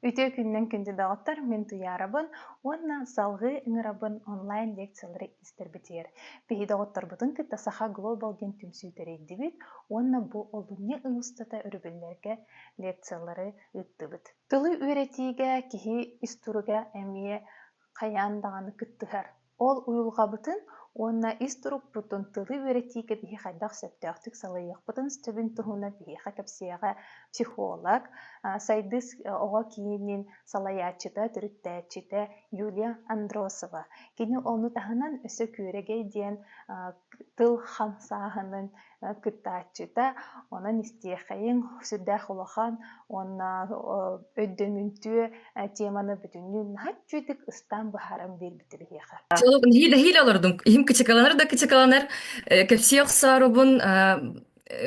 Үтүө күннэн күндү доҕоттор, мин Туйаарабын уонна салгыы ыҥырабын онлайн лекциялары истэрбитигэр. Биһи доҕотторбутун кытта Саха Глобал диэн түмсүү тэрийдибит уонна бу олунньу ый устата өрөбүллэргэ лекциялары ыыттыбыт. Тылы үөрэтиигэ, киһи ис туруга эмиэ хайаан даҕаны кыттыһар. Ол уйулҕабытын уонна ис турукпутун тылы үөрэтии кэбиһи хайдах сөптөөхтүк салайыахпытын сөбүн туһунан биһиэхэ кэпсиэҕэ психолог, сайдыс оҕо киинин салайааччыта, төрүттээччитэ Юлия Андросова. Кини ону таһынан өссө күөрэгэй диэн тыл хамсааһынын кыттааччыта, онон истиэхэйиҥ сүрдээх улахан уонна өйдөмүнтүө теманы бүтүннүү наһаччытык ыстаан быһааран биэрбитэ биһиэхэ. Толук нэһиилэ олордум. Иһим кычыкалары да кычыкаланар. Кэпсии охсоорубун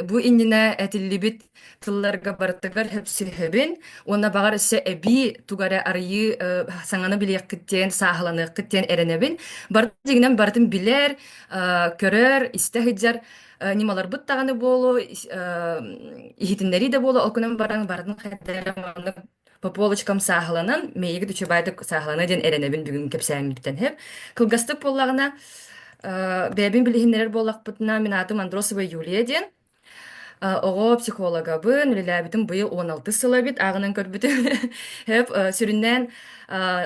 бу иннинэ этиллибит тылларга барытыгар хөпсөһөбүн уонна баҕар өссө эбии туга эрэ арыйыы э, саҥаны билиэххит диэн сааһыланыаххыт диэн эрэнэбин бары дигинэн барытын билэр э, көрөр истэ сылдьар э, ньымаларбыт даҕаны буолу иһитиннэрии да буолу ол күнэн баран барытын хайдары маннык по полочкам сааһыланан мэйигит учебайдык сааһылана диэн эрэнэбин бүгүн кэпсээммиттэн хэп кылгастык буоллаҕына бэйэбин билиһиннэрэр буоллахпытына мин аатым андросова юлия диэн Оҕо психологабын, үлэлээбитим быйыл он алтыс сыл эбит, ааҕынан көрбүтүм. Өп сүрүннээн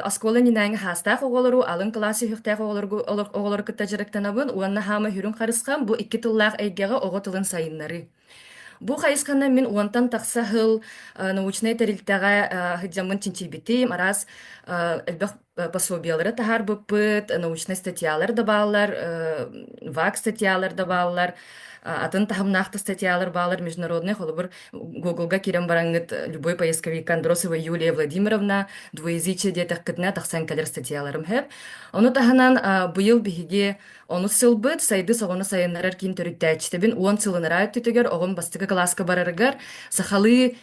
оскуола иннинээҥи хаастаах оҕолору, алын кылаас сүһүөхтээх оҕолоргу оҕолору кытта дьарыктанабын уонна хаама үрүҥ харысхам бу икки тыллаах эйгэҕэ оҕо тылын сайыннарыы. Бу хайысханан мин уонтан тахса сыл научнай тэрилтэҕэ сылдьаммын чинчийбитим. Араас элбэх пособиелары таһаарбыппыт, научнай статьялар да бааллар, ВАК статьялар да бааллар, атын таһымнаахтык статьялар бааллар международнай холобур Google-га киирэн бараҥҥыт любой поисковик Андросова Юлия Владимировна двуязычие диэтэххитинэ тахсан кэлэр статьяларым сөп. Ону таһынан быйыл биһиги онус сылбыт сайдыс оҕону сайыннарар киин төрүттээччитэбин уон сылынара өттүтүгэр оҕом бастакы кылааска барарыгар сахалыы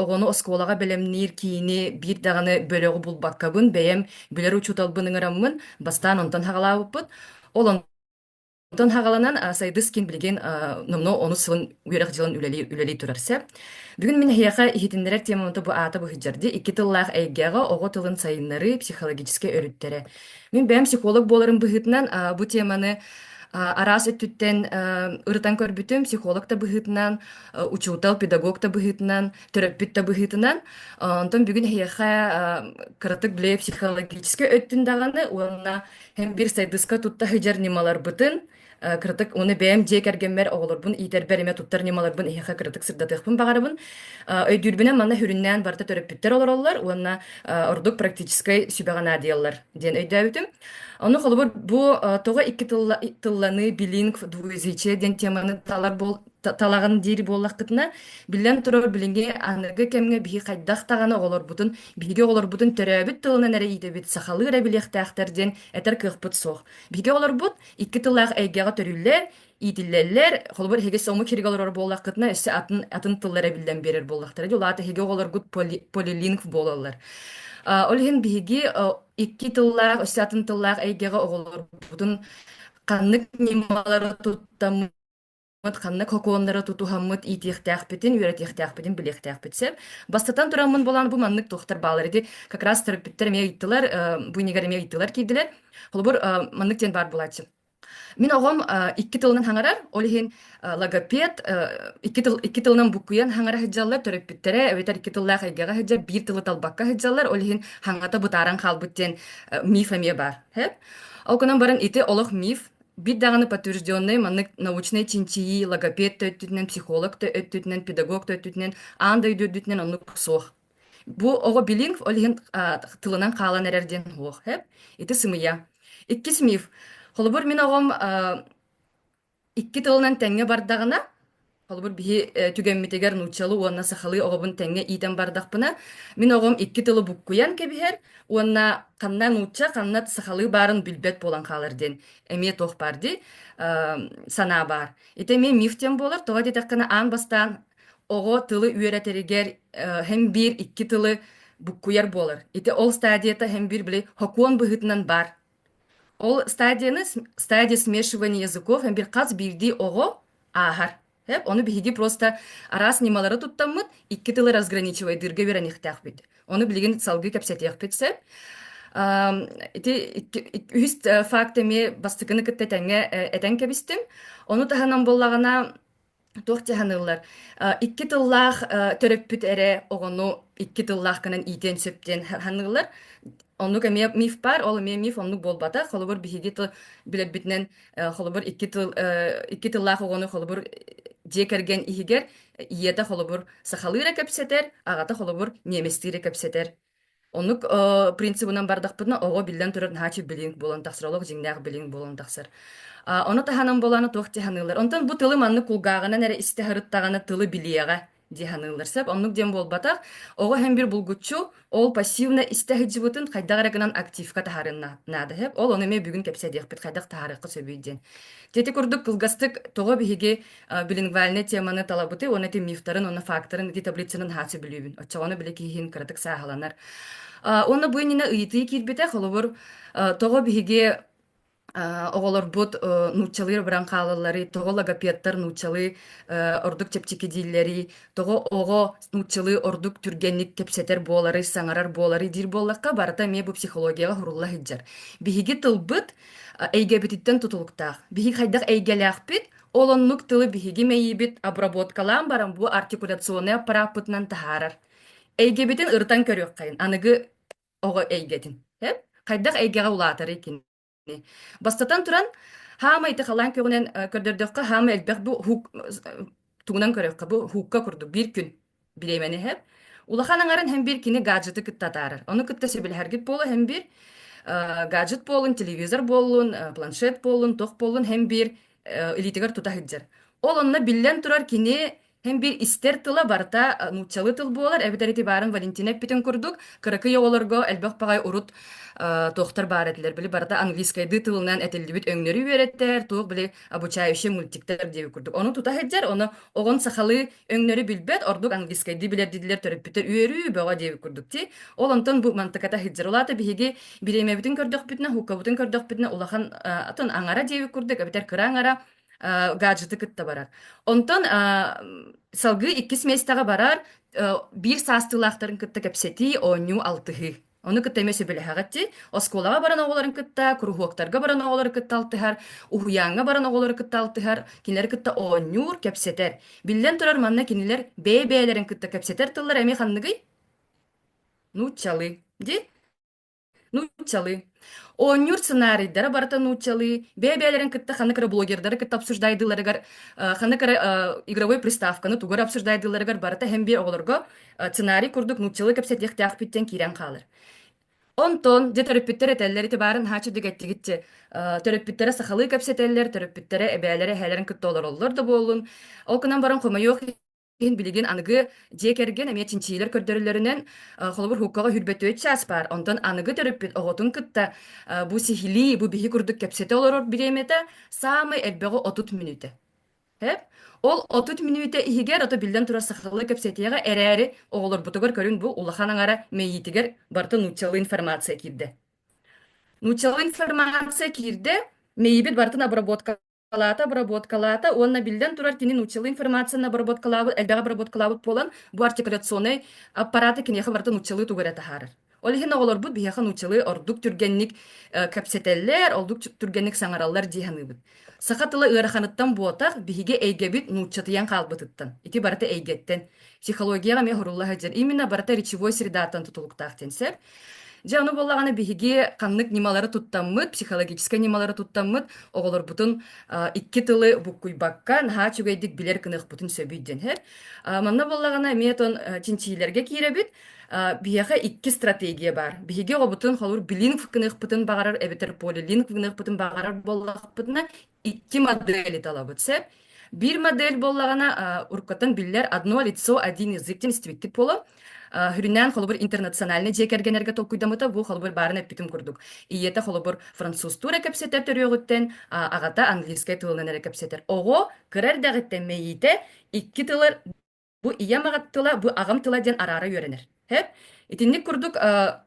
оҕону оскуолаҕа бэлэмниир киини биир даҕаны бөлөҕү булбаккабын бэйэм билэр учууталбын ыҥыраммын бастаан онтон хаҕалаабыппыт ол онтон хаҕаланан сайдыс кин билигин номно ону сылын үөрэх дьылын үлэлии үлэлии турар сэп бүгүн мин эһиэхэ иһитиннэрэр тема онто бу аата быһыджарди икки тыллаах эйгэҕэ оҕо тылын сайыннарыы психологическай өрүттэрэ мин бэйэм психолог буоларым быһыытынан бу теманы араас өттүттэн ырытан көрбүтүм психолог да быһыытынан учуутал, педагог да быһыытынан, төрөппүт да быһыытынан. Онтон бүгүн эһиэхэ кыратык билэ психологическай өттүн даҕаны уонна һэм бир сайдыска тутта һыдьар ньымаларбытын кыратык уну бэйэм дьиэ кэргэммэр оҕолорбун иитэрбэр эмэ туттар ньымаларбын иһэхэ кыратык сырдатыахпын баҕарабын өйдүүрбүнэн манна хүрүннээн барыта төрөппүттэр олороллор уонна ордук практическай сүбэҕэ наадыйаллар диэн өйдөөбүтүм ону холобур бу тоҕо икки тылланыы билинг двуязычие диэн теманы талар талаҕын диэри буоллаххытына, биллэн турар, билинги аныгы кэмҥэ биһи хайдах даҕаны оҕолорбутун, биһиги оҕолорбутун төрөөбүт тылынан эрэ иидэбит, сахалыы эрэ билиэхтээхтэр диэн этэр кыахпыт суох. Биһиги оҕолорбут икки тыллаах эйгэҕэ төрүүллэр, иитиллэллэр, холобур, эһиги омук иһигэр олорор буоллаххытына, өссө атын, атын тыллары биллэн биэрэр буоллахтара дии, улаата эһиги оҕолоргут поли, полилингв буолаллар. Ол иһин биһиги икки тыллаах, өссө атын тыллаах эйгэҕэ оҕолорбутун ханнык ньымалары Вот ханнык сокуоннары тутуһаммыт иитиэхтээхпитин, үөрэтиэхтээхпитин, билиэхтээхпит сөп. Бастатан тураммын буолан бу маннык туохтар баалар ити как раз төрөппүттэр эмиэ ыйыттылар, э, бу инигэр эмиэ ыйыттылар киирдилэр. Холобур, э, маннык диэн баар буолааччы. Мин оҕом э, икки тылынан хаҥарар, ол иһин э, логопед э, икки тыл икки тылынан буккуйан хаҥара сылдьаллар, төрөппүттэрэ эбэтэр икки тыллаах эйгэҕэ сылдьар, биир тылы талбакка сылдьаллар, ол иһин хаҥата бытааран хаалбыт диэн э, миф эмиэ баар. Ол гынан баран ити олох миф, Бит даҕаны подтвержденнай маннык научнай чинчийии логопед да өттүтүнэн, психолог да өттүтүнэн, педагог да өттүтүнэн, аан дойду үрдүтүнэн оннук суох. Бу оҕо билинг, ол иһин тылынан хаалан эрэр диэн уохэп. Ити сымыйа. Икки сымыйыв. Холобур, мин оҕом икки тылынан тэҥҥэ бардаҕына, Холобур, биһи э, түгэммитигэр нууччалыы уонна сахалыы оҕобун тэҥҥэ иитэн бардахпына, мин оҕом икки тылы буккуйан кэбиһэр уонна ханна нуучча, ханна сахалыы баарын билбэт буолан хаалар диэн эмиэ туох баар дии э, санаа баар. Ити эмиэ миф диэн буолар, тоҕо диэтэххинэ аан бастаан оҕо тылы үөрэтэригэр э, һэм биир икки тылы буккуйар буолар. Ити ол стадията һэм биир били хокуон быһыытынан баар Ол стадияны стадия смешивания языков бир хас биирдии оҕо ааһар. Эп ону биһиги просто араас ньымалары туттаммыт икки тылы разграничивайдыырга үөрэниэхтээхпит. Ону билигин салгыы кэпсэтиэхпит сөп. Ам, ити үһүс факт эмиэ бастакыны кытта тэҥҥэ этэн кэбистим. Ону таһынан буоллаҕына Туох дьаһаныллар? Э, икки тыллаах э, төрөппүт эрэ оҕону икки тыллаах гынан иитиэн сөптүөн саныыллар. Оннук эмиэ миф баар, ол эмиэ миф оннук буолбата. Холобур, биһиги тыл билэрбитинэн э, холобур икки тыл икки тыллаах оҕону холобур дьиэ кэргэн иһигэр ийэтэ холобур сахалыы эрэ кэпсэтэр, аҕата холобур немецтии эрэ кэпсэтэр Оннук э, принцибынан бардахпытына оҕо биллэн турар наһаачы билинг буолан тахсар олох дьиҥнээх билинг буолан тахсар. А, Ону таһынан буолааны туох дии саныылар. Онтон бу тылы маннык кулгааҕынан эрэ истэ сырыттаҕына тылы билиэҕэ дии саныылар. Сөп оннук диэн буолбатах. Оҕо һэм бир булгуччу ол пассивно истэ сылдьыбытын хайдах эрэ гынан активка таһарын на- наада сөп. Ол ону эмиэ бүгүн кэпсэдиэхпит хайдах таһарыахха сөбүй диэн. Дьэ ити курдук кылгастык тоҕо биһиги билингвальнай теманы талабыты уонна ити мифтарын уонна фактарын ити таблицанан хааччы билүүбүн оччоҕоно билэ киһиин кыратык сааһыланар уонна бу иннинэ ыйытыы киирбитэ холобур тоҕо биһиги оҕолорбут нууччалыыр баран хаалалларый тоҕо логопедтар нууччалыы ордук чэпчэки дииллэрий тоҕо оҕо нууччалыы ордук түргэнник кэпсэтэр буоларый саҥарар буоларый диир буоллахха барыта эмиэ бу психологияҕа сурулла сылдьар биһиги тылбыт эйгэбититтэн тутулуктаах биһиги хайдах эйгэлээхпит Ол оннук тылы биһиги мэйиибит обработкалаан баран бу артикуляционнай аппарааппытынан таһаарар. Эйгэбитин ырытан көрүөххэйин, аныгы оҕо эйгэтин. Эп? Хайдах эйгэҕэ улаатарый кини? Бастатан туран, хаама ити халаан көҕүнэн көрдөрдөххө, хаама элбэх бу уһук тугунан көрөххө бу уһукка курдук биир күн. Бириэмэни иһэр. Улахан аҥарын һэмбир кини гаджеты кытта атаарар. Ону кытта сөбүлэһэргит буола һэмбир э, гаджет буолун, телевизор буоллун, э, планшет буоллун, туох буоллун һэмбир э, илиитигэр тута сылдьар. Ол онно биллэн турар кини һэмбир истэр тыла барыта э, нууччалыы тыл буолар эбэтэр ити баарын Валентина эппитин курдук кыракый оҕолорго элбэх баҕай урут э, туохтар баар этилэр били барыта английскайдыы тылынан этиллибит өҥнөрү үөрэттэр туох били обучающие мультиктар диэби курдук. Ону тута һэджэр, оно оҕон сахалы өңнөрү билбэт, ордук английскайдыы билэрдилер төрөппүтер үөрүү бөҕө диэби курдук ти. Ол онтон бу мантыката һэджэр улаата биһиги бириэмэбитин көрдөхпүтүнэ, хуккабытын көрдөхпүтүнэ улахан атын аңара диэби курдук, эбитэр кыра аңара гаджеты кытта барар. Онтон салгыы иккис местэҕэ барар биир саастыылаахтарын кытта кэпсэтии, оонньуу алтыһыы. Ону кытта эмэ сөбүлэһэҕит дии. Оскуолаҕа баран оҕолорун кытта, куруһуоктарга баран оҕолору кытта алтыһар, уһуйааҥҥа баран оҕолору кытта алтыһар, кинилэри кытта оонньуур, кэпсэтэр. Биллэн турар, манна кинилэр бэйэ-бэйэлэрин кытта кэпсэтэр тыллара эмиэ ханныгый? Нууччалыы. Дии? Нууччалыы. Оонньуур сценарийдара барыта нууччалыы. Бэйэ-бэйэлэрин кытта ханнык эрэ блогердары кытта обсуждайдыыларыгар, э, ханнык эрэ э, игровой приставканы тугу эрэ обсуждайдыыларыгар барыта эһэмбиэ оҕолорго сценарий курдук нууччалыы кэпсэтиэхтээхпит диэн киирэн хаалар онтон дьэ төрөппүттэр этэллэр ити баарын хааччы дигэттигитчи төрөппүттэрэ сахалыы кэпсэтэллэр төрөппүттэрэ эбээлэрэ эһээлэрин кытта олороллор да буоллун ол гынан баран хомойуох иһин билигин аныгы дьиэ кэргэн эмиэ чинчиилэр көрдөрөллөрүнэн холобур хуккаҕа хүрбөтүөт чаас баар онтон аныгы төрөппүт оҕотун кытта бу сиһилии бу биһи курдук кэпсэтэ олорор бириэмэтэ саамай элбэҕи отут мүнүүтэ Сөп. Ол отут мүнүүтэ иһигэр, ото биллэн турар сахалыы кэпсэтиэҕэ эрээри, оҕолорбутугар көрүҥ бу улахан аҥара мэйиитигэр барыта нууччалыы информация киирдэ. Нууччалыы информация киирдэ, мэйиибит барытын обработкалаата, обработкалаата уонна биллэн турар кини нууччалыы информацияны обработкалаабыт, элбэҕи обработкалаабыт буолан, бу артикуляционнай аппараты киниэхэ барыта нууччалыы тугу эрэ таһаарар. Ол иһин оҕолорбут биһиэхэ нууччалыы ордук түргэнник э, кэпсэтэллэр, ордук түргэнник саҥараллар дии саныыбын. Саха тыла ыараханыттан буотах биһиги эйгэбит нууччатыйан хаалбытыттан, ити барыта эйгэттэн, психологияҕа эмиэ оһорулла сылдьар. Именно барыта речевой средаттан тутулуктаах диэн сөп. Дьэ ону буоллаҕына биһиги ханнык ньымалары туттаммыт, психологическай ньымалары туттаммыт оҕолорбутун икки тылы буккуйбакка наһаа үчүгэйдик билэр кыныахпытын сөбүй диэн һэр. Манна буоллаҕына эмиэ тон чинчиилэргэ киирэбит. Биһиэхэ икки стратегия бар. Биһиги оҕобутун холур билинг гыныахпытын баҕарар эбэтэр полилинг гыныахпытын баҕарар буоллахпытына икки модели талабыт сөп. Бир модель боллагана уркаттан биллер одно лицо один языктен истибиттик боло. Хүрүнән холобур интернациональный же кэргенерге толкуйдамыта бу холобур барын эппитим курдук. Ийете холобур француз тура кепсетер төрүөҕүттэн агата английскай тылынан эрэ кепсетер. Оҕо кырар дагыттан мейите икки тылыр Бу ийэм аҕат тыла, бу аҕам тыла диэн араара үөрэнэр. Хэп? Итинник курдук э,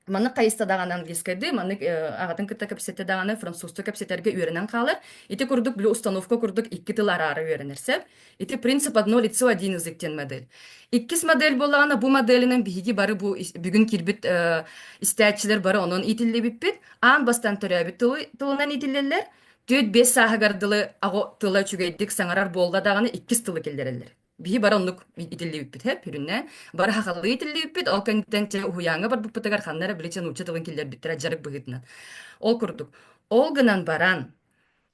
маннык хайыста даҕаны английскайдыы, маннык э, аҕатын кытта кэпсэтэ даҕаны французча кэпсэтэргэ үөрэнэн хаалар. Ити курдук били установка курдук икки тыл араара үөрэнэр сөп. Ити принцип одно лицо один язык диэн модель. Иккис модель буоллаҕына бу моделинэн биһиги бары бу бүгүн киирбит э, истээччилэр бары онон иитиллибиппит. Аан бастан төрөөбүт тылынан иитиллэллэр. Түөрт-биэс сааһыгар дылы аҕо тыла үчүгэйдик саҥарар буолла даҕаны иккис тылы киллэрэллэр. Биһи бары оннук итиллибиппит һэ бүрүннэ. Бары хахалыы итиллибиппит, ол кэнниттэн чэ уһуйааҥҥа барбыппытыгар ханна эрэ билигин нуучча тылын киллэрбиттэрэ дьарык быһыытынан. Ол курдук. Ол гынан баран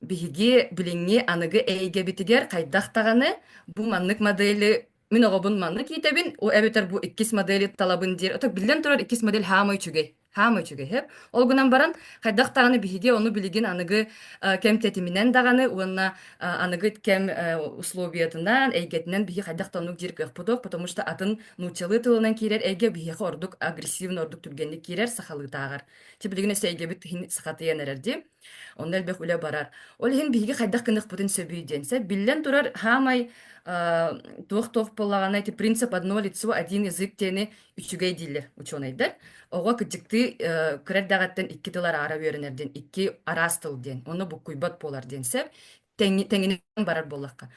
биһиги билиҥҥи аныгы эйгэбитигэр хайдах даҕаны бу маннык модели Мин оҕобун манна киитэбин, у эбэтэр бу иккис модели талабын диир. Ото биллэн турар иккис модель хаамай үчүгэй. Хаамай үчүгэйһеп. Ол гынан баран хайдах даҕаны биһиги ону билигин аныгы э, кэм тэтиминэн даҕаны уонна э, аныгы кэм э, условиятынан, эйгэтинэн биһиги хайдах да оннук диир кыахпытык, потому что атын нууччалыы тылынан киирэр эйгэ биһиэхэ ордук агрессивный ордук түргэнник киирэр сахалыытааҕар. Ти билигин эс эйгэбит сахатыйан эрэр Онно элбэх үлэ барар. Ол иһин биһиги хайдах гыныхпытын сөбүй диэн. Сэ биллэн турар, хаамай туох-туох буолаҕына ити принцип одно лицо один язык диэни үчүгэй дииллэр учуонайдар. Оҕо кыдьыктыы кыра эрдэҕиттэн икки тыл араара үөрэнэр диэн, икки араас тыл диэн, онно буккуйбат буолар диэн сөп. тэҥ тэҥинэн барар буоллахха.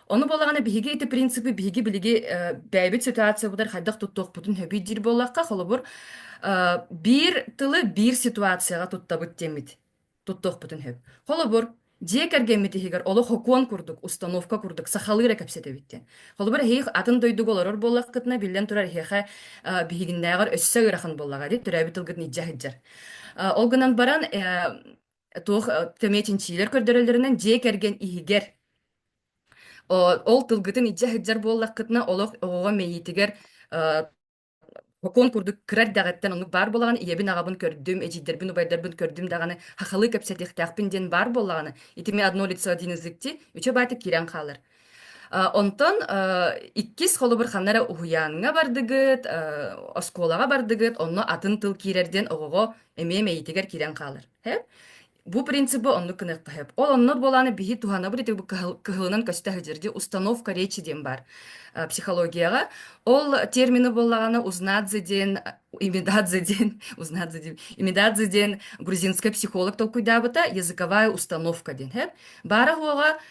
Ону буолаҕына биһиги ити принципи биһиги билиги э, бэйэбит ситуациябытыгар хайдах туттуохпутун сөбүй диир буоллахха, холобур, э, биир тылы биир ситуацияҕа туттабыт диэммит туттуохпутун сөп. Холобур, дьиэ кэргэммит иһигэр олох окуон курдук, установка курдук сахалыы эрэ кэпсэтэбит диэн. Холобур, эһиги атын дойдуга олорор буоллаххытына, биллэн турар эһиэхэ э, биһигиннээҕэр өссө ыарахан буоллаҕа дии, төрөөбүт тылгытын илдьэ сылдьар. Ол гынан баран туох төмө чинчиилэр көрдөрөллөрүнэн дьиэ кэргэн иһигэр ол тылгытын илдьэ сылдьар буоллаххытына олох оҕоҕо мэйиитигэр сокуон курдук кыра эрдэҕиттэн оннук баар буолаҕын ийэбин аҕабын көрдүм эдьиийдэрбин убайдарбын көрдүм даҕаны хахалыы кэпсэтиэхтээхпин диэн баар буоллаҕына ити мин одно лицо один язык дии үчэ баата киирэн хаалар Онтон иккис холобур ханна эрэ уһуйааҥҥа бардыгыт, оскуолаҕа бардыгыт, онно атын тыл киирэр диэн оҕоҕо эмиэ мэйиитигэр киирэн хаалар. Бу принципы оннук гыныахха сөп. Ол оннук буолааны биһи туһанабыт итигу кыһылынан көстө сылдьар дии установка речи диэн баар психологияҕа. Ол термины буоллаҕына узнадзе диэн имитадзе диэн узнадзе диэн имитадзе диэн грузинскай психолог толкуйдаабыта языковая установка диэн. Баара-хуоҕа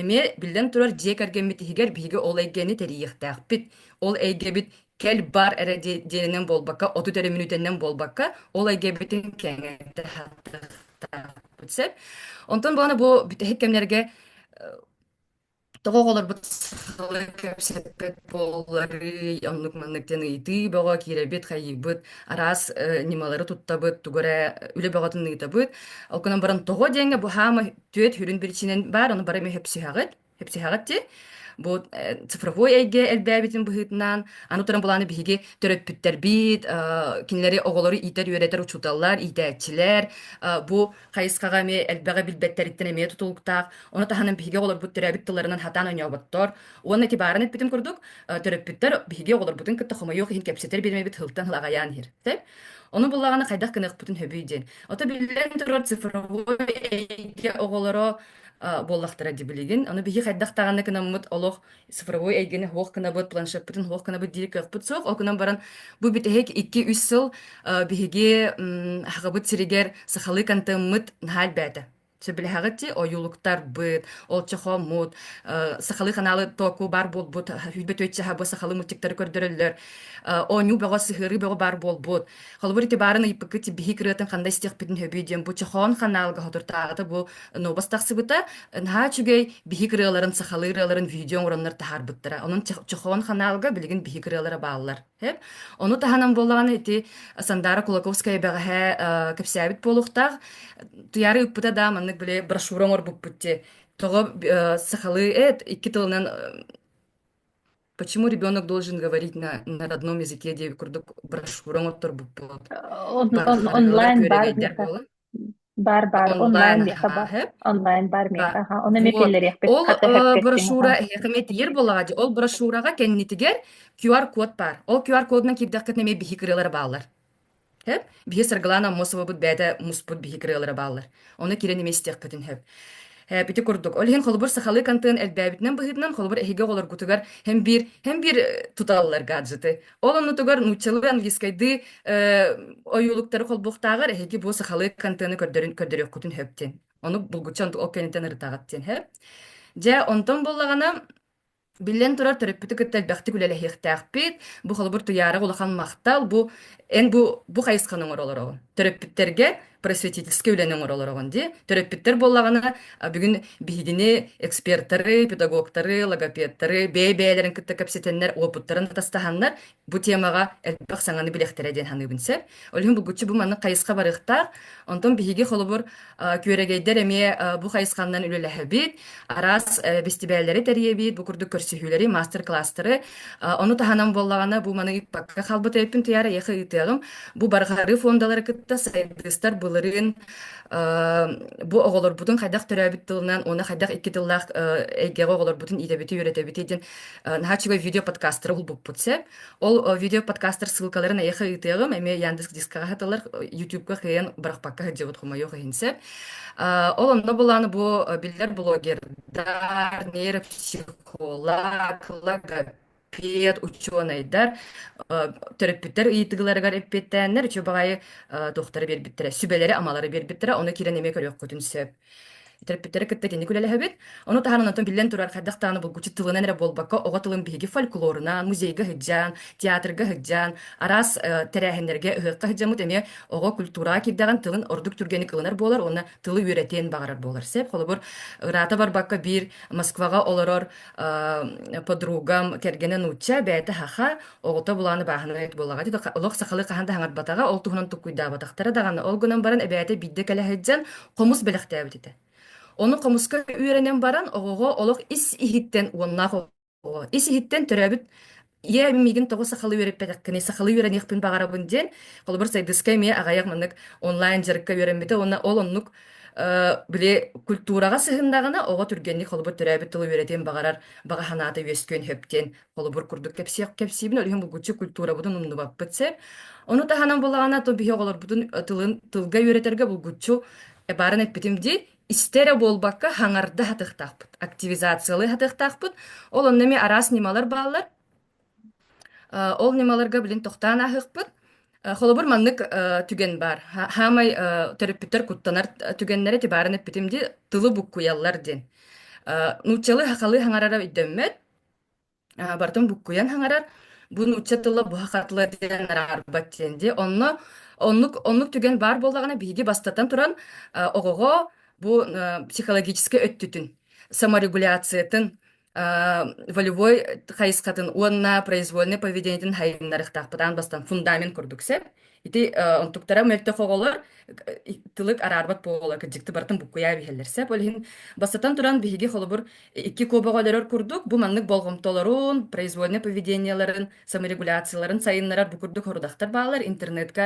Эмиэ, биллэн турар, дьиэ кэргэммит иһигэр биһиги ол эйгэни тэрийиэхтээхпит. Ол эйгэбит кэл-бар эрэ дии- диэнинэн буолбакка, отут эрэ мүнүүтэнэн буолбакка, ол эйгэбитин кэҥэтэ сатыахтаахпыт сөп. Онтон баҕана бу бүтэһик кэмнэргэ тоҕо оҕолорбут сахалыы кэпсэппэт буолларый, оннук-маннык диэн ыйытыы бөҕө киирэбит, хайыыбыт, араас э, ньымалары туттабыт, тугу эрэ үлэ бөҕөтүн ыытабыт. Ол гынан баран тоҕо диэҥҥэ бу хаама Түөт хүрүн биричинен бар, ону бары эмэ хөпсүһэҕит. Хөпсүһэҕит ти. Бу э, цифровой эйгэ элбээбитин быһыытынан, аны туран булааны биһиги төрөппүттэрбит, э, кинилэри оҕолору иитэр, үөрэтэр учууталлар, иитээччилэр, э, бу хайысхаҕа эмиэ элбэҕи билбэттэриттэн эмиэ тутулуктаах. Оны таһынан биһиги оҕолорбут төрөөбүт тылларынан хатаан ойнооботтор. Уонна ити баарын эппитим курдук, э, төрөппүттэр биһиги оҕолорбутун кытта хомойуох иһин кэпсэтэр биримэбит хылтан хыл аҕайаан иһэр. Ону буллаҕына хайдах гыныахпытын сөбүй диэн. Ото биллэн турар цифровой эйгэ оҕолоро буоллахтара дии билигин. Ону биһи хайдах даҕаны кынаммыт олох цифровой эйгэни суох кынабыт, планшеппытын суох кынабыт диэри кыахпыт суох. Ол гынан баран бу бүтэһик 2-3 сыл биһиги Хагабыт сиригэр сахалыы контеммыт наһаа элбээтэ. сөбүлэһэҕити ойуулуктарбыт, олча хоммут, сахалыы каналы току бар буолбут, хүйбөт өйтчаха бу сахалыы мультиктары көрдөрөллөр, оонньуу бөҕө сыһыарыы бөҕө бар буолбут. Холобур ити баарын ыйыппыкка тибиһи кырыатын қандай істиэхпитин хөбүй диэн бу чохон каналга хотуртааҕата бу нобас тахсыбыта, наһаа үчүгэй биһи кырыаларын сахалыы ырыаларын видео оҥороннор таһаарбыттара. Онон чохон каналга билигин биһи кырыалара бааллар. Эп. Ону таһынан буоллаҕына ити Сандара Кулаковская бэҕэһээ э, кэпсээбит буолуохтаах. Туйаары ыппыта да маннык били брошюра оҥорбуппут ти. Тоҕо э, сахалыы эт икки тылынан э, почему ребенок должен говорить на, на родном языке диэн курдук брошюра оҥотторбуппут. Э, он- он- Тархаһарыылар онлайн баар туйарыйдэр буолан. Баар баар онлайн миэхэ баар онлайн баар миэхэ аха ону эмиэ киллэриэхпит ол брошюра эһиэхэ эмиэ тиийэр буоллаҕа дии ол брошюраҕа кэннитигэр QR код баар ол QR кодунан киирдэххитинэ эмиэ биһи кырыалара бааллар Хэп биһи Саргылаана Аммосовабыт бэйэтэ муспут биһи кырыалара бааллар ону киирэн эмиэ истиэхпитин хэп Э, ити курдук. Ол иһин холобур сахалыы контент элбээбитинэн быһыытынан, холобур эһиги оҕолоргутугар һэм биир һэм биир э, туталлар гаджеты. Ол оннутугар нууччалыы, английскайдыы э, ойуулуктары холбуохтааҕар эһиги бу сахалыы контены көрдөрүн көрдөрүөхкутүн сөптүн. Ону булгучча ол кэнниттэн ырытаҕыт диэн һэ. Дьэ, онтон буоллаҕына Биллэн турар, төрөппүтү кытта элбэхтик үлэлэһиэхтээхпит. Бу холобур туйаарык улахан махтал. Бу эн бу бу хайысханы оҥоро олороҕун. Төрөппүттэргэ просветительскэй үлэни оҥоро олороҕун дии. Төрөппүттэр буоллаҕына а, бүгүн биһигини экспертары, педагогтары, логопедтары бэйэ-бэйэлэрин кытта кэпсэтэннэр, уопуттарын атастаһаннар Бу темаҕа элбэх саҥаны билэхтэрэ диэн саныыбын сөп. Ол иһин булгуччу бу маннык хайысха барыахтаах. Онтон биһиги холобур күөрэгэйдэр эмиэ бу хайысханан үлэлэһэбит. Араас бэстибээллэри тэрийэбит, бу курдук көрсүһүүлэри, мастер-кластеры. Ону таһынан буоллаҕына бу маны ыыппакка хаалбыт эбиппин тыйаара эйиэхэ ыытыаҕым. Бу барҕарыы фондалары кытта сайдыыстар былырыын бу оҕолорбутун хайдах төрөөбүт тылынан уонна хайдах икки тыллаах эйгэҕэ оҕолорбутун иитэбити үөрэтэбити диэн наһаа үчүгэй видео подкастары булбуппут сэп ол видео подкастар ссылкаларын эйэхэ ыытыаҕым эмиэ яндекс дискаҕа хатылар ютубка кыйан барахпакка сылдьыбыт хомойуох иһин сэп ол онно булааны бу биллэр блогердар нейропсихолог логопед учуонайдар төрөппүттэр ыйытыгыларыгар эппиэттээннэр үчү баҕайы тохтары биэрбиттэрэ сүбэлэри амалары биэрбиттэрэ ону кирэн эмиэ көрүөххүтүн сөп Төрөппүттэрэ кытта итинник үлэлэһэбит. Ону таһынан онтон биллэн турар, хайдах даҕаны булгуччу тылынан эрэ буолбакка, оҕо тылын биһиги фольклоруна, музейга сыдьаан, театрга сыдьаан, араас э, тэрээһиннэргэ, ыһыахха сыдьаммыт эмиэ оҕо культураҕа киирдэҕин тылын ордук түргэнник ылынар буолар уонна тылы үөрэтиэн баҕарар буолар. Сеп, холобур, ыраата барбакка биир Москваҕа олорор э, подругам кэргэнэ нуучча бэйэтэ хаха, оҕото булааны бааһынай буолаҕа олох сахалы хаһан да хаҥарбатаҕа, ол туһунан туккуйдаабатахтара даҕаны. Ол гынан баран эбээтэ биирдэ кэлэ сылдьан хомус бэлэхтээбит этэ. Ону хомуска үөрэнэн баран оҕоҕо олох ис иһиттэн уоннаах оҕо ис иһиттэн төрөөбүт ийэ миигин тоҕо сахалыы үөрэппэтэххиний сахалыы үөрэниэхпин баҕарабын диэн холобур сайдыска эмиэ аҕайах маннык онлайн дьарыкка үөрэммитэ уонна ол оннук били культураҕа сыһыннаҕына оҕо түргэнник холобур төрөөбүт тылы үөрэтиэн баҕарар баҕа санаата үөскүөн сөптүөн Холобур курдук кэпсиибин олүһүн булгуччу культурабытын умнубаппыт сеп. Ону таһынан булаҕана то биһи оҕолорбутун тылын тылга үөретэргэ булгуччу барын эппитим ди истэрэ буолбакка хаҥарда хатыктаахпыт активизациялы хатыктаахпыт ол онно эми араас ньымалар бааллар ол ньымаларга билин тохтаан аһыкпыт холобур маннык түген бар хаамай төрөппүттэр куттанар түгеннере тибарын эппитим ди тылы буккуйаллар дин нууччалы хахалы хаҥарара өйдөммөт А, бартым буккуйан хаҥарар бу нуучча тыла буһа хатыла диэн араарбат диэн дии онно оннук оннук түгэн баар буоллаҕына биһиги бастатан туран э, оҕоҕо бу э, психологическай өттүтүн саморегуляциятын э, волевой хайысхатын уонна произвольнай поведениетин хайыннарыахтаахпыт аан бастан фундамент курдук сеп Ити онтуктара мөлтөх оголор тылык араарбат буола кырдьыкты бартын буккуйаа биһэллэр сеп ол иһин бастатан туран биһиги холобур икки куобаҕолорор курдук бу маннык болҕомтолорун произвольное поведениеларын саморегуляцияларын сайыннарар бу курдук хорудахтар баалар интернетка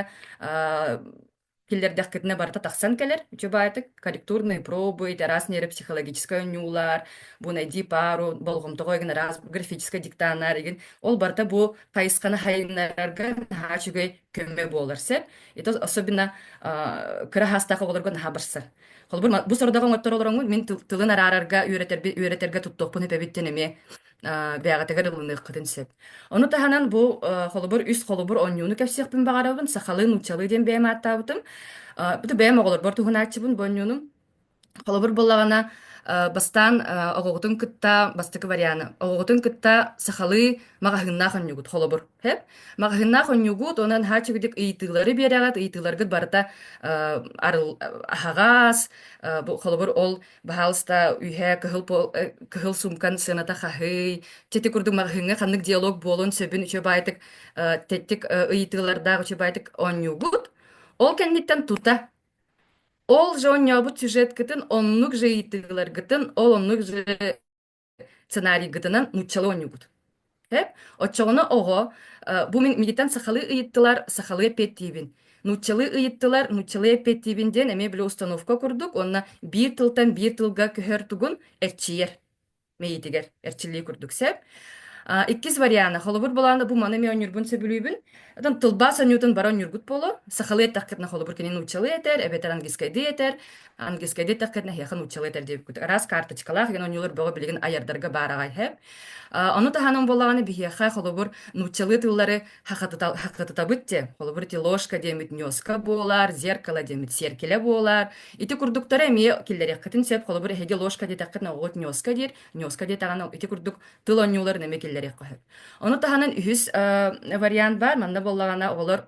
киллэрдэхкитинэ барыта тахсан кэлэр үчүбаайтык корректурные пробы раз нейропсихологическай онньуулар бу найди пару болҕомтоҕо эгин араас графическай диктанаар игин ол барыта бу хайысханы хайыннарарга наһаа үчүгэй көмө буолар сөп. Ито особенно кыра хаастаах оҕолорго наһаа барсар. Холобур, бу сорудах оҥоттор олороҥҥун мин тылын араарарга, үөрэтэрби үөрэтэргэ туттуохпун эпэбиттен эмиэ бэҕэтигэр ылыныаххытын сөп. Ону таһынан бу холобур үс холобур онньууну кэпсиэхпин баҕарабын. Сахалыы, нууччалыы диэн бэйэм ааттаабытым. Бу бэйэм оҕолорбор туһунааччыбын бу онньуунум. Холобур буоллаҕына, э, бастаан э, оҕоҕутун кытта бастакы варианы. Оҕоҕутун кытта сахалыы маҕаһыыннаах онньугут, холобур. Хэп? Маҕаһыыннаах онньугут, онон һаачыгдык ыйытыылары биэрэҕит, ыйытыыларгыт барыта э, арыл, аһаҕас, э, бу, холобур, ол баһаалыста үһэ кыһыл, пол- э, кыһыл сумкан сыаната хаһый, тити курдук маҕаһыыҥҥа ханнык диалог буолун сөбүн үчүгэйдик э, тэттик э, ыйытыылардаах үчүгэйдик онньуугут. Ол кэнниттэн тута Ол же оонньообут сюжеткытын оннук же ыйыттыгыларгытын, ол оннук же сценарийгытынан нууччалыы оонньуугут. Эп? Оччоҕуна оҕо э, бу мин мигиттэн сахалыы ыйыттылар, сахалыы эппиэттиибин. Нууччалыы ыйыттылар, нууччалыы эппиэттиибин диэн эмиэ били установка курдук, уонна биир тылтан биир тылга көһөр тугун эрчийэр. мэйиитигэр эрчиллии курдук сэп. А, иккис вариана холобур булааны бу маны ми онньурбун сөбүлүүбүн Атын тылбаас онньуутун бара онньургут боло сахалыы эттэхкетна холобур кини нууччалыы этэр эбэтэр английскайдыы этэр английскайдыы эттэхкетна хиэха нууччалыы этэр диэбиккут араас карточкалаах иген онньуулар бөҕө билигин айардарга баараҕай хэп Ону таһынан буоллаҕына биһиэхэ холобур нууччалыы тыллары хахатытабыт те холобур ити ложка диэмит ньуоска буолар зеркало диэмит сиэркилэ буолар ити курдуктары эмиэ киллэриэххитин сөп холобур эһиги ложка диэтэххитинэ оҕоҕут ньуоска диир ньуоска диэтэҕинэ ити курдук тыл оонньууларын эмиэ киллэриэххэ сөп ону таһынан үһүс вариант баар манна буоллаҕына оҕолор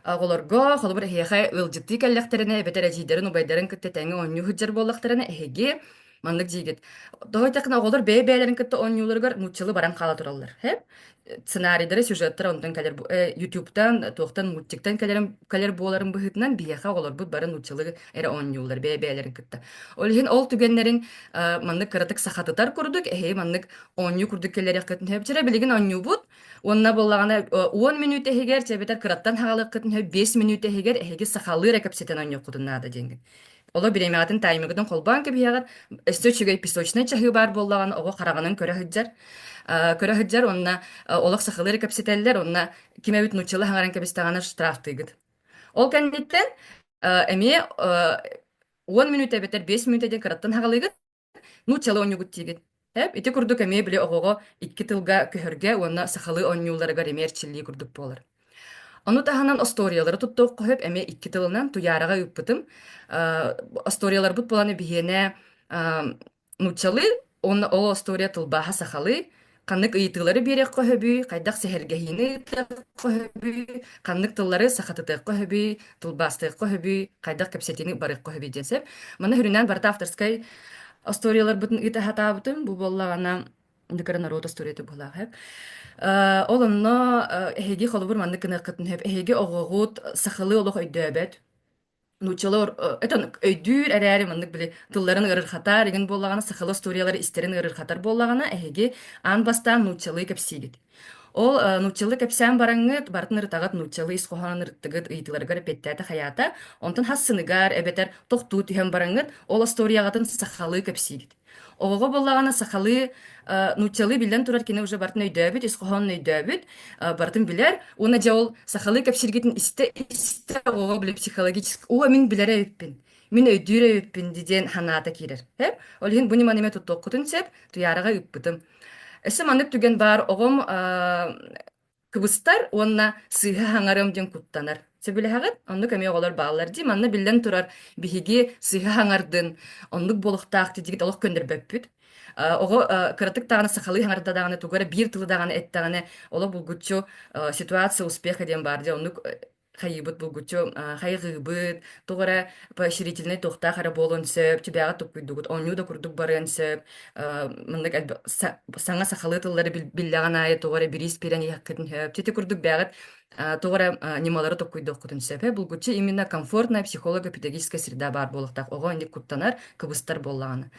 Оҕолорго холобур эһиэхэ ыалдьыттыы кэллэхтэринэ эбэтэр эдьиийдэрин убайдарын кытта тэҥҥэ оонньуу сылдьар буоллахтарына эһиги маннык диигит. Тоҕо диэтэххинэ оҕолор бэйэ-бэйэлэрин кытта оонньууларыгар нууччалыы баран хаала тураллар. Сэп? Сценарийлара, сюжеттара онтон кэлэр бу э, YouTube-тан, туохтан мультиктан кэлэрин кэлэр буоларын быһыытынан биһиэхэ оҕолорбут бары нууччалыы эрэ оонньууллар бэйэ-бэйэлэрин кытта. Ол иһин ол түгэннэрин э, маннык кыратык сахатытар курдук эһиги маннык оонньуу курдук кэлэриэххитин сөп. Вчера билигин оонньуубут Уонна буоллаҕына уон мүнүүтэ иһигэр чэбэтэр кыраттан хаалыаххытын сөп биэс мүнүүтэ иһигэр эһиги сахалыы кэпсэтэн оонньуоххутун наада диэҥҥин. Оло бириэмэҕитин таймыгытын холбоон кэбиһэҕит. Өссө үчүгэй песочнай чаһыы баар буоллаҕына оҕо хараҕынан көрө сылдьар. көрө сылдьар уонна олох сахалыы кэпсэтэллэр уонна ким эбит нуччалыы хаҥаран кэбистэҕинэ штрафтыыгыт. Ол кэнниттэн эмиэ уон мүнүүтэ эбэтэр биэс мүнүүтэ диэн кыраттан хаалыыгыт Нууччалыы оонньуугут диигин. Эп, ити курдук эмиэ били оҕоҕо икки тылга көһөргө уонна сахалыы оонньууларыгар эмиэ эрчиллии курдук буолар. Ону таһынан остуоруйалары туттуохха сөп эмиэ икки тылынан Туйаараҕа ыыппытым. Э, остуоруйаларбыт буолана биһиэнэ э, нууччалыы уонна ол остуоруйа тылбааһа сахалыы. Ханнык ыйытыылары биэриэххэ сөбүй, хайдах сэһэргэһиини ыытыахха сөбүй, ханнык тыллары сахатытыахха сөбүй, тылбаастыахха сөбүй, хайдах кэпсэтиини барыахха сөбүй диэн сэп. Маны үрүнээн барыта авторскай остуоруйаларбытын ыыта сатаабытым. Бу буоллаҕына Нөкөрө норуот остуоруйата буолаахык. Э, ол онно э, эһиги холобур маннык гыныаххытын сөп. Эһиги оҕоҕут сахалыы олох өйдөөбөт. Нууччалар этон өйдүүр эрээри маннык били тылларын ыарырхатар игин буоллаҕына сахала историялары истэрин ыарырхатар буоллаҕына эһиги аан бастаан нууччалыы кэпсиигит. Ол нууччалыы кэпсээн бараҥҥыт бартын ырытаҕыт нууччалыы ис хоһоонун ырыттыгыт ыйытыыларыгар эппиэттээтэ хайаата онтон хас сыныгар эбэтэр тохтуу түһэн бараҥҥыт ол остуоруйаҕытын сахалыы кэпсиигит. Оҕоҕо буоллаҕына сахалыы нууччалыы биллэн турар кини уже бартын өйдөөбүт, ис хоһоонун өйдөөбүт, бартын билэр. Уонна дьэ ол сахалыы кэпсиргитин истэ-истэ оҕоҕо билэ психологически оо мин билэрэ эбиппин, мин өйдүүрэ эбиппин диэн санаата киирэр. Эп ол иһин бу ньыманы эмэ туттуоххутун сөп, Туйаараҕа ыыппытым. Өссө маннык түгэн баар, оҕом Кыбыстар уонна сыыһа хаҥарым диэн куттанар. Сөбүлэһэҕит? Оннук эмиэ оҕолор бааллар дии. Манна биллэн турар, биһиги сыыһа хаҥардын, оннук буолуохтаах титигит олох көннөрбөппүт. Э, оҕо э, кыратык даҕаны сахалыы хаҥарда даҕаны, тугу эрэ биир тылы даҕаны эттэҕинэ, олох булгуччу э, ситуация успеха диэн баар дии. Оннук хайыыбыт булгуччу хайҕыыбыт туох эрэ поощрительнай туохтаах эрэ буолуон сөп чыбиэҕэ туккуйдугут оонньуу да курдук барыан сөп маннык элбэх саҥа сахалыы тыллары биллэҕин аайы туох эрэ бириис пирэн иһэххитин сөп чити курдук бээҕит туох эрэ ньымалары токкуйдуоххутун сөпө булгуччу именно комфортная психолог эпидагогическая среда баар буолуохтаах оҕо инник куттанар кыбыстар буоллаҕына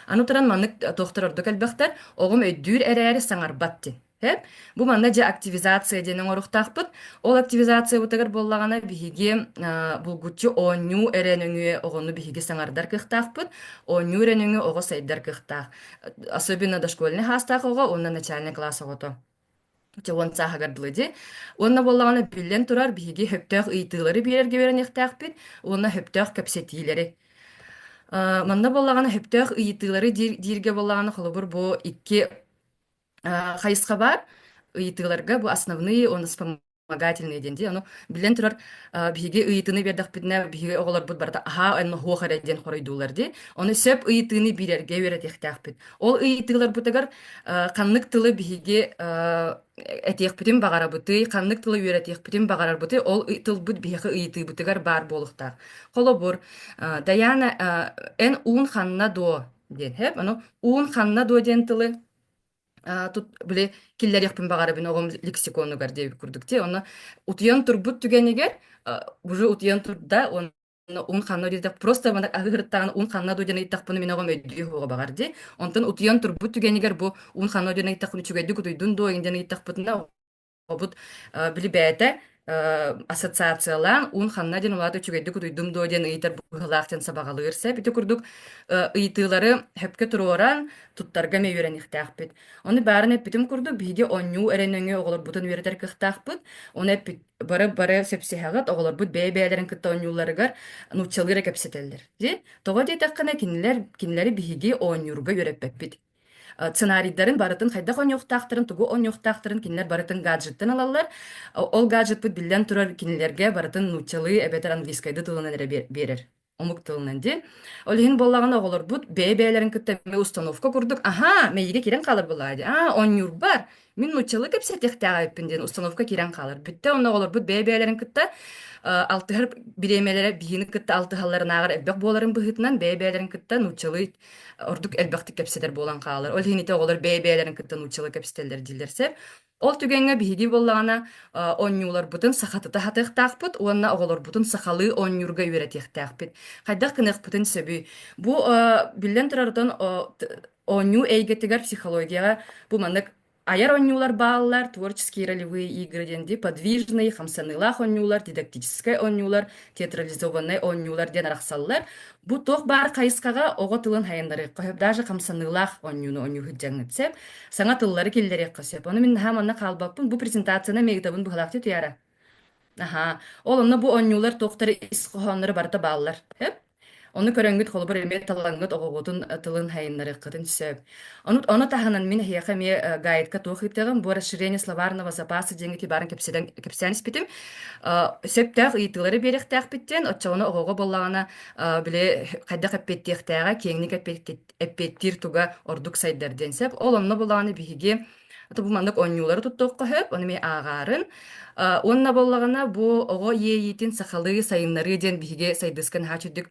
аны туран маннык туохтар ордук элбэхтэр оҕом өйдүүр эрээри саҥарбат дин Эп. Бу манна дьэ активизация диэн оҥоруохтаахпыт. Ол активизациябытыгар буоллаҕына биһиги э, булгуччу оонньуу эрэ нөҥүө оҕону биһиги саҥардар кыахтаахпыт. Оонньуу эрэ нөҥүө оҕо сайдар кыахтаах. Особенно дошкольный саастаах оҕо уонна начальный класс оҕото. Чэ, уон сааһыгар дылы дии. Уонна буоллаҕына биллэн турар биһиги хөптөөх ыйытыылары биэрэргэ үөрэниэхтээхпит уонна хөптөөх кэпсэтиилэри. Э, манна буоллаҕына хөптөөх ыйытыылары диир, дииргэ буоллаҕына холобур бу икки А, хайысхабар ыйытыыларга бу основные, он вспомогательные диэн дии. Ону биллэн турар, а, биһиги ыйытыыны биэрдэхпитинэ, биһиги оҕолорбут барыта аһаа эн мохуох эрэ диэн хоруйдуулар дии. Ону сөп ыйытыыны биэрэргэ үөрэтиэхтээхпит. Ол ыйытыыларбытыгар а, ханнык тылы биһиги а, этиэхпитин баҕарабытый, ханнык тылы үөрэтиэхпитин баҕарарбытый, ол ый- тылбыт биһиги ыйытыыбытыгар баар буолуохтаах. Холобур, а, Дайаана, а, эн уун ханна дуо? диэн. Хэп, аны уун ханна дуо диэн тылы А, тут били киллэриэхпин баҕарабын оҕом лексиконугар диэбит курдук те ону утуйан турбут түгэнигэр уже утуйан турда он ун ханна диэтэх просто манак аһыыртаан ун ханна дудьан ыйттахпын мин оҕом өйдүү хоҕо баҕар ди онтон утуйан турбут түгэнигэр бу ун ханна дудьан ыйттахпын үчүгэйдик утуйдун доо инден ыйттахпытына Обут билибээтэ ассоциациялаан уун ханна диэн улаата үчүгэйдик утуйдум дуо диэн ыйытар быһыылаах диэн сабаҕалыыр сеп ити курдук ыйытыылары хөпкө туруоран туттарга эмиэ үөрэниэхтээхпит. Ону баарын эппитим курдук биһиги оонньуу эрэнөҥү оҕолорбутун үөрэтэр кыахтаахпыт. Оны эппит бары бары сөпсүһэҕит оҕолорбут бэйэ-бэйэлэрин кытта оонньууларыгар нууччалыы эрэ кэпсэтэллэр. Тоҕо диэтэххинэ кинилэр кинилэри биһиги оонньуурга үөрэппэппит. сценарийдарын барытын хайдах оонньуохтаахтарын тугу оонньуохтаахтарын кинилэр барытын гаджеттан ылаллар ол гаджетпыт биллэн турар кинилэргэ барытын нууччалыы эбэтэр английскайды тылынан эрэ биэрэр омук тылынан дии ол иһин буоллаҕына оҕолорбут бэйэ бэйэлэрин кытта эмиэ установка курдук аха мэйиигэ киирэн хаалар буолаҕа дии а оонньуурбар Мин нууччалыы кэпсэтиэхтээх эбиппин диэн установка киирэн хаалар. Бүттэ онно оҕолорбут бэйэ-бэйэлэрин кытта алтыһар бириэмэлэрэ биһиини кытта алтыһалларынааҕар элбэх буоларын быһыытынан бэйэ-бэйэлэрин кытта нууччалыы ордук элбэхтик кэпсэтэр буолан хаалар. Ол иһин ити оҕолор бэйэ-бэйэлэрин кытта нууччалыы кэпсэтэллэр дииллэр сэр. Ол түгэҥҥэ биһирии буоллаҕына оонньууларбытын сахатыта сатыахтаахпыт уонна оҕолорбутун сахалыы оонньуурга үөрэтиэхтээхпит. Хайдах гыныахпытын сөбүй? Бу биллэн турарытын Оонньуу эйгэтигэр психологияҕа бу маннык айар оонньуулар бааллар, творческие ролевые игры диэн дии, подвижный, хамсаныылаах оонньуулар, дидактическай оонньуулар, театрализованнай оонньуулар диэн арахсаллар. Бу туох баар хайысхаҕа оҕо тылын хайаннарыахха сөп, даже хамсаныылаах оонньууну оонньуу сылдьаҥҥыт сөп. Саҥа тыллары киллэриэххэ сөп. Ону мин наһаа манна хаалбаппын. Бу презентацияны миигитабын быһалаахтыы туйаара. Аһаа, ол онно бу оонньуулар туохтар ис хоһоонноро барыта бааллар. Өп. Оны көрөҥҥүт холобур эмиэ талаҥҥыт оҕоҕутун э, тылын сайыннарыаххытын сөп. Ону, ону таһынан мин эһиэхэ эмиэ э, гайдка туох ыыттаҕым, бу расширение словарного запаса диэҥҥити баарын кэпсэтэн, кэпсээн испитим. Э, сөптөөх ыйытыылары биэриэхтээхпиттиэн, оччоҕуна оҕоҕо буоллаҕына э, били хайдах эппиэттиэхтээҕэ, киэҥник эппиэттиир туга ордук сайдар диэн сөп. Ол онно буоллаҕына биһиги Аты бу маннык оонньуулары туттуохха сөп, ону эмиэ ааҕаарын. Э, уонна буоллаҕына бу оҕо иэйиитин сахалыы сайыннарыы диэн биһиги сайдыска наһаа чуддук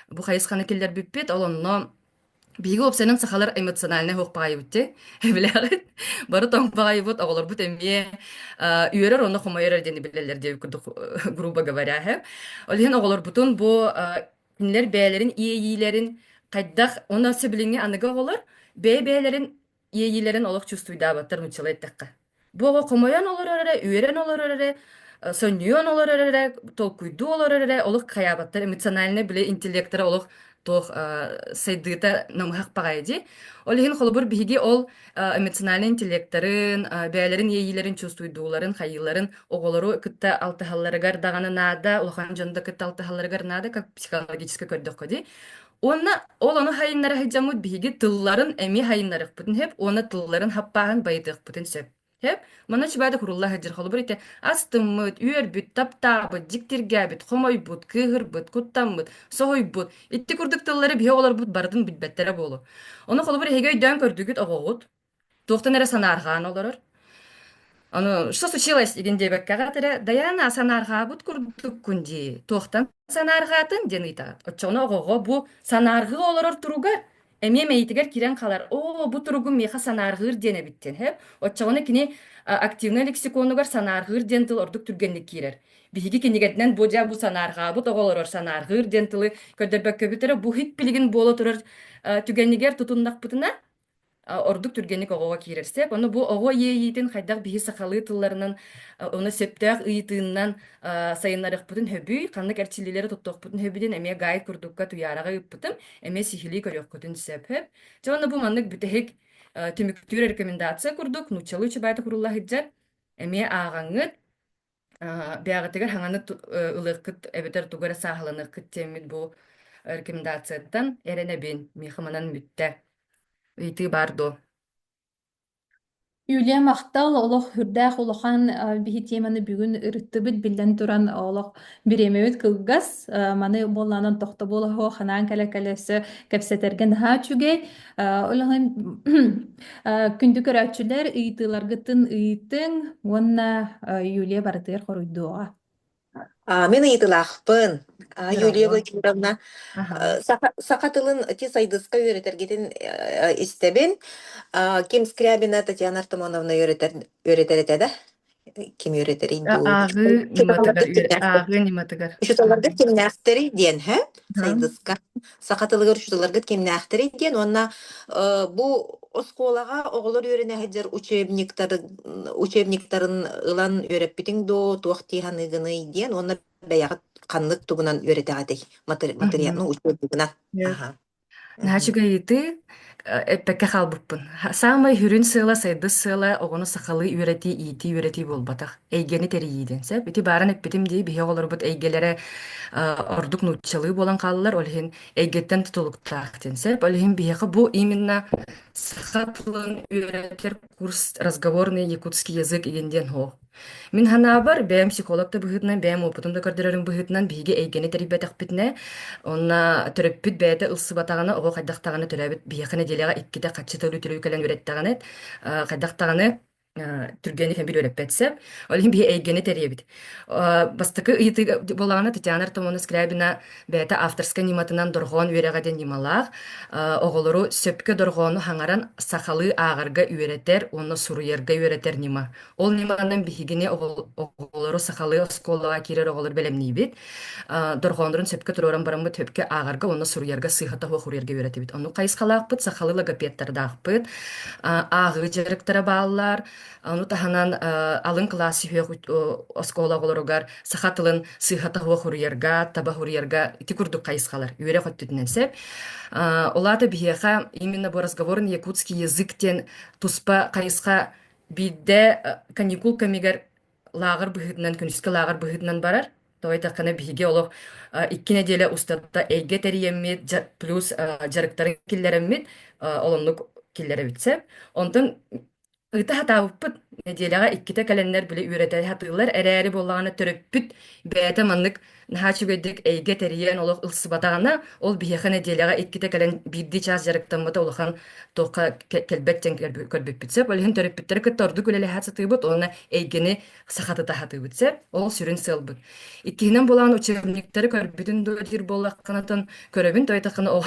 бу хайысханы киллэрбиппит. Ол онно Биһиги уопсайынан сахалар эмоциональнай оһох баҕайыбыт дьэ, билэҕит. Бары тоҥ баҕайбыт, оҕолорбут эмиэ э, үөрэр уонна хомойор диэн билэллэр диэн курдук э, грубо говоря иһэ. Ол иһин оҕолорбутун бу э, кинилэр бэйэлэрин иэйиилэрин хайдах уонна сөбүлэҥҥэ аныгы оҕолор бэйэ-бэйэлэрин иэйиилэрин олох чувствуйдаабаттар нууччалыы эттэххэ. Бу оҕо хомойон олорор эрэ, үөрэн олорор эрэ, сонньуйан олорор эрэ, толкуйдуу олорор эрэ олох хайаабаттар эмоциональнай били интеллектора олох туох сайдыыта намыһах паҕайа дии. Ол иһин холобур биһиги ол эмоциональнай интеллекторын, бэйэлэрин иэйиилэрин чувствуйдууларын, хайыыларын оҕолору кытта алтыһалларыгар даҕаны наада, улахан дьону да кытта алтыһалларыгар наада, как психологически көрдөххө дии. Уонна ол ону хайыннара сылдьаммыт биһиги тылларын эмиэ хайыннарыхпытын сөп уонна тылларын хаппааһын байытыахпытын сөп. Сөп. Маны чубаада курулла сылдьар холобур ите астыммыт, үөрбүт, таптаабыт, дьиктиргээбит, хомойбут, кыыһырбыт, куттаммыт, соһуйбут, итти курдук тыллары биһи олорбут барытын билбэттэрэ буолу. Ону холобур эһиги өйдөөн көрдүгүт оҕоҕут. Туохтан эрэ санаарҕаан олорор. Ону что случилось дигин диэбэккэҕэ эрэ Дайаана санаарҕаабыт курдуккун дии туохтан санаарҕаатын диэн ыйытаҕыт оччоҕуна оҕоҕо бу санаарҕыы олорор туруга эмиэ мэйитигэр киирэн хаалар оо бу туругу миэхэ санаарҕыыр диэн эбиттэн сөп оччоҕуна кини активнай лексиконугар санаарҕыыр диэн тыл ордук түргэнник киирэр биһиги кинигэтинэн бу дьэ бу санаарҕаабыт оҕо олорор санаарҕыыр диэн тылы көрдөрбөккөбүт эрэ бу һик билигин буола турар түгэнигэр тутуннахпытына ордук түргэнник оҕоҕо киирэр сеп ону бу оҕо иэйиитин хайдах биһи сахалыы тылларынан ону сөптөөх ыйытыыннан сайыннарыахпытын сөбүй ханнык эрчиллиилэри туттуохпутун сөбүдүн эмиэ гайд курдукка туйаараҕа ыыппытым эмиэ сиһилии көрүөххүтүн сөп дьэ ону бу маннык бүтэһик түмүктүүр рекомендация курдук нууччалыы чубайта курулла сылдьар эмиэ ааҕаҥҥыт бэҕэтигэр хаҥаны ылыахкыт эбэтэр тугу эрэ сааһыланыахкыт диэммит бу рекомендацияттан эрэнэбин мехаманан бүттэ ыйытыы баар дуо Юлия Махтал олох үрдээх улахан биһи тиэмэни бүгүн ырыттыбыт биллэн туран олох бириэмэбит кылгас маны буоллаанан тохтобул оһо ханаан кэлэ кэлэ өссө кэпсэтэргэ наһаа үчүгэй Үлэһин күндү көрөөччүлэр ыйытыыларгытын ыйытыҥ уонна Юлия барытыгар хоруйдуоҕа. А, Мен ыйытыылаахпын. А, Юлия Здорово. Владимировна, Ага. э, саха, саха тылын ити сайдыска үөрэтэргитин э, истэбин. А, Ким Скрябина Татьяна Артамоновна үөрэтэр, үөрэтэр этэ да? ким үөрэтэрий ааҕыы ньыматыгар ааҕыы ньыматыгар учууталларгыт кимнээхтэрий диэн һэ сайдыска саха тылыгар учууталларгыт кимнээхтэрий диэн уонна бу оскуолаҕа оҕолор үөрэнэ сылдьар учебниктар учебниктарын ылан үөрэппитиҥ доо туох дии саныыгыный диэн уонна бэйэҕит ханнык тугунан үөрэтэҕитий материал ну учебнигынан Наачык ыйытыы э, эппэккэ хаалбыппын. Ха- Саамай сүрүн сыала, сайдыс сыала оҕону сахалыы үөрэтии, иитии, үөрэтии буолбатах. Эйгэни тэрийиидин. Сөп? Ити бааран эппитим дии, биһиги оҕолорбут эйгэлэрэ э, ордук нууччалыы буолан хааллылар, ол иһин эйгэттэн тутулуктаах диэн. Сөп? Ол иһин биһиэхэ бу именно саха тылын үөрэтэр курс разговорный якутский язык иген диэн оһох. Мин санаабар, бэйэм психолог да быһыытынан, бэйэм уопутум да көрдөрөрүм быһыытынан биһиги эйгэни тэрийбэтэхпитинэ, онно төрөппүт бэйэтэ ылсыбатаҕына, оҕо хайдах даҕаны төрөөбүт биһиэхэ нэдиэлэҕэ иккитэ хаччы тылы үтүлүү кэлэн үөрэттэҕинэ, э, хайдах даҕаны э, түргэн ихэн билиэрэппэт сэп. Ол иһин биһи эйгэни тэрийэбит. Э, бастакы ыйытыы буолаҕына Татьяна Артамоновна Скрябина бэйэтэ авторскай ньыматынан дорҕоон үөрэҕэ диэн ньымалаах э, оҕолору сөпкө дорҕоону хаҥаран сахалыы ааҕарга үөрэтэр уонна суруйарга үөрэтэр ньыма. Ол ньыманан биһигини оҕолору сахалыы оскуолаҕа киирэр оҕолор бэлэмниибит. Дорҕооннорун сөпкө туруоран бараммыт сөпкө ааҕарга уонна суруйарга сыыһа-тоһу уруйарга үөрэтэбит. Ону хайысхалаахпыт, сахалыы логопедтардаахпыт. Ааҕыы дьарыктара бааллар. Ону таһынан алын кылаас сүһүөх оскуола оҕолоругар саха тылын сыыһа-тоһу уруйарга, таба уруйарга ити курдук хайысхалар үөрэх өттүтүнэн сөп. Улаата биһиэхэ именно бу разговорын якутский язык диэн туспа хайысха Биирдэ каникул кэмигэр лааҕыр быһыытынан, күнүскү лааҕыр быһыытынан барар, тоҕо диэтэххинэ биһиги олох икки нэдиэлэ устата эйгэ тэрийэммит, плюс дьарыктарын киллэрэммит, олоннук киллэрэбит сөп. Онтон ыта сатаабыппыт, нэдиэлэҕэ иккитэ кэлэннэр били үөрэтэ сатыыллар эрээри буоллаҕына төрөппүт бэйэтэ маннык Наһаа үчүгэйдик эйгэ тэрийэн олох ылсыбатаҕына, ол биһиэхэ нэдиэлэҕэ иккитэ кэлэн биирдии чаас дьарыктаммыта улахан туохха кэлбэт диэн көрбүппүт сөп. Ол иһин төрөппүттэри кытта ордук үлэлэһэ сатыыбыт уонна эйгэни сахатыта сатыыбыт сөп. Ол сүрүн сыалбыт. Иккиһинэн булаан учебниктары көрбүтүн дуо диир буоллаххына Көрөбүн тойотоххуна ол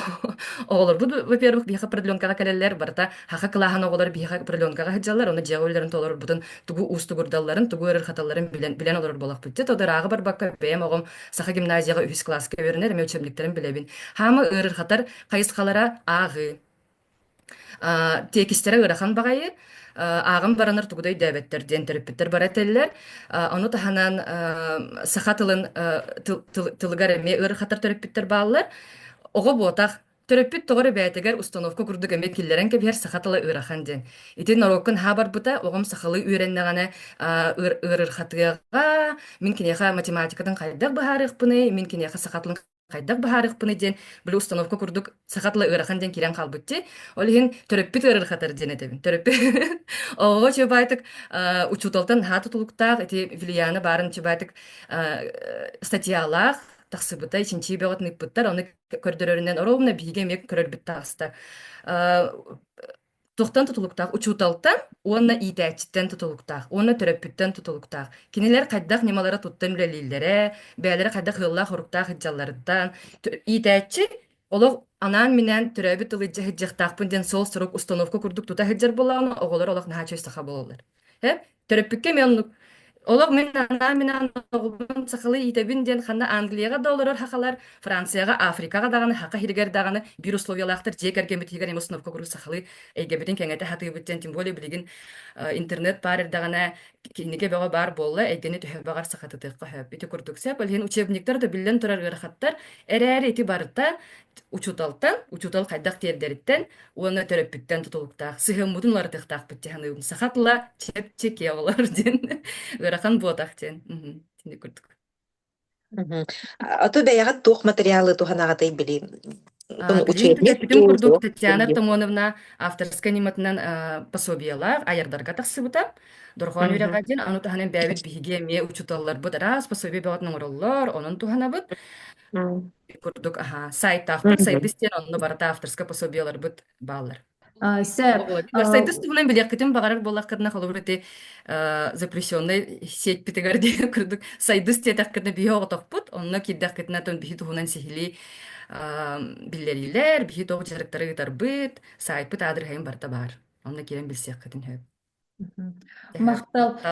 оҕолорбут, во-первых, биһиэхэ определенкаҕа кэлэллэр, барыта хаха кылааһын оҕолор биһиэхэ определенкаҕа сылдьаллар, уонна дьиэҕэ үлэлэрин олорбутун тугу уустугурдалларын, тугу өрөр-хаталларын билэн, билэн олорор буолахпыт. Тода ырааҕы барбакка, бэйэм оҕом саха гимназияҕа үһүс кылааска үөрэнэр, эмэ үчүмнүктэрин билэбин. Хаама ыарырҕатар хайысхалара ааҕыы. Э, тиэкистэрэ ыарахан баҕайы, э, ааҕан баранар тугу да өйдөөбөттөр диэн төрөппүттэр бара этэллэр. Э, ону таһынан э, саха тылын э, тыл, тыл, тылыгар эмиэ ыарахаттар төрөппүттэр бааллар. Оҕо буотах төрөппүт тоҕор эбээтигэр установка курдук эмиэ киллэрэн кэбиһэр саха тыла ыарахан диэн. Ити норуоккун һаа барбыта, оҕом сахалыы үөрэннэҕинэ ыарырхатыаҕа, мин киниэхэ математикатын хайдах быһаарыахпыный, мин киниэхэ саха тылын Хайдах баһаарыхпыный диэн били установка курдук саха тыла ыарахан диэн киирэн хаалбыт дии. Ол иһин төрөппүт ыарырҕатар диэн этэбин. Төрөппүт оҕоҕо чубаайтык э, учууталтан аһаата тулуктаах ити Вилияна баарын чубаайтык э, статьялаах тахсыбыта чинчии бөҕөтүн ыппыттар ону көрдөрөрүнэн оруобуна биһиги эмиэ көрөрбүт таҕыста. Э, Туохтан тутулуктаах? Учууталтан уонна иитээччиттэн тутулуктаах, уонна төрөппүттэн тутулуктаах. Кинилэр хайдах ньымалара туттан үлэлииллэрэ, бэйэлэрэ хайдах ыаллаах-соруктаах итдьалларыттан. Иитээччи олох анаан-минээн төрөөбүт тылы дьаһайдьахтаахпын диэн сол сорук установка курдук тута сылдьар буоллаҕына, оҕолор олох наһаа чөл саха буолаллар. Эп, төрөппүккэ мен оннук. Олох мин анаан мин аан оҕобун сахалыы иитэбин диэн ханна Англияҕа да олорор хахалар, Францияҕа, Африкаҕа даҕаны, хаха хиригэр даҕаны биир условиялаахтар дьиэ кэргэммит иһигэр эмэ установка куруук сахалыы эйгэбитин кэҥэтэ сатыыбыт диэн тем более билигин э, интернет баар эрдэҕинэ кинигэ бөҕө баар буолла эйгэни төһө баҕар сахатытыахха сөп ити курдук сеп иһин учебниктар да биллэн турар ыарахаттар эрээри ити барыта учуталтан, учутал хайдах тиэрдэриттэн уонна төрөппүттэн тутулуктаах сыһыаммытын уларытыахтаахпыт дии саныыбын. Саха тыла чэпчэки олор диэн ыарахан буотах диэн. Итини курдук. Мгм. А ты бэйэҕит туох материалы туһанаҕытый билиим? А, билиим төрөппүтүм курдук Татьяна Артамоновна авторскай ньыматынан э, пособиелаах айардарга тахсыбыта. Дорҕоон үөрэҕэ диэн аны таһынан бэйэбит биһиги эмиэ учууталларбыт араас пособие бөҕөтүн оҥороллор, онон туһанабыт. Ити курдук, аһаа, сайтаахтар, сайбыс диэн онно барыта авторскай пособиеларбыт бааллар. А, О, сөп. Володимир, сайдыстыбынан билиэхпитин баҕарар буоллаххытына, холобур, ити э, запрещеннай сеть-питигэр диэн курдук сайдыс диэтэххитинэ биһи оҕотохпут, онно киирдэххитинэ тон биһи туһунан сиһилии э, биллэриилэр, биһи тоҕу дьарыктары ыытарбыт, сайтпыт аадырыһайын барыта баар. Онно киирэн билсиэххитин сөп. Махтал.